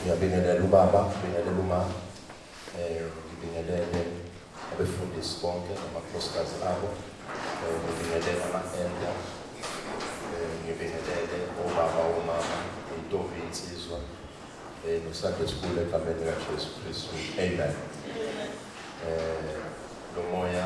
ngiyabingelela ubaba ngibingelela uma um eh, ngibingelele abefundisi bonke namakhosikazi abo um ngibingelele ama-enda um ngibingelele obaba omama intombi insizwa um nosande sikhulu egameni likajesu kristu amen um lo moya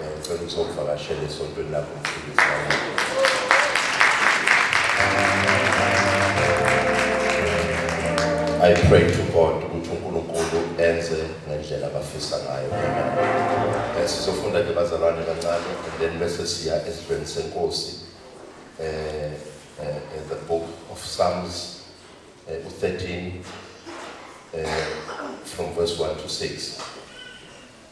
Ngicela ukuzovakashela esontweni lakho I pray to God ukuthi uNkulunkulu enze ngendlela abafisa ngayo. Eh, sizofunda ke bazalwane kancane and then bese siya esibheni senkosi. Eh, eh, eh the book of Psalms eh, 13 eh, from verse 1 to 6.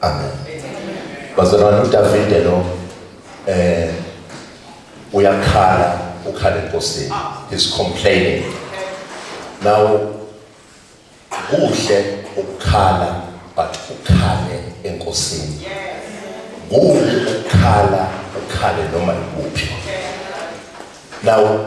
Amen. Bazalwane uDavide lo eh uyakhala ukhala enkosini. He's complaining. Now kuhle ukukhala but ukhale enkosini. Kuhle ukukhala ukhale noma ikuphi. Now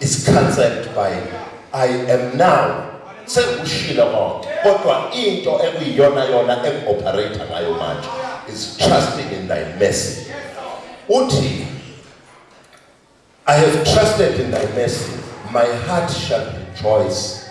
is cancelled by I am now sengikushilo konke kodwa into ekuyiyona yona engioperator ngayo manje is trusting in thy mercy uthi I have trusted in thy mercy my heart shall rejoice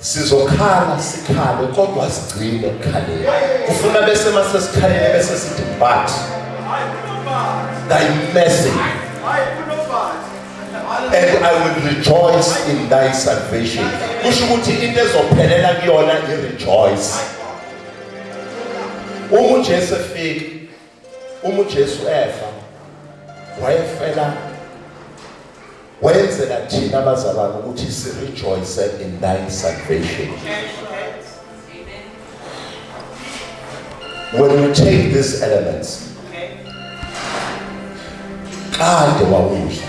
sizokhala sikhale kodwa sigcine ukukhaleni ufuna bese mase sikhalele bese sithi but thy mercy and I will rejoice in thy salvation kusho ukuthi into ezophelela kuyona i rejoice uma uJesu efika Uma uJesu efa wayefela wayenzela thina abazalwane ukuthi si rejoice in thy salvation. When we take these elements kade wawudla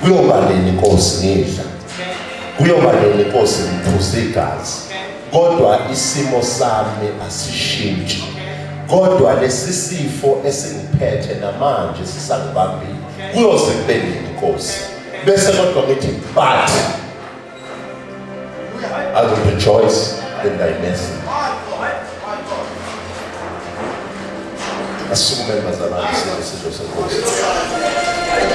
kuyoba nini inkosi ngidla kuyoba nini inkosi ngiphuza igazi kodwa isimo sami asishintshi kodwa lesi sifo esingiphethe namanje sisangibambile kuyoze kube nini inkosi bese kodwa ngithi but I will rejoice in thy mercy asikume bazalwane sizwe senkosi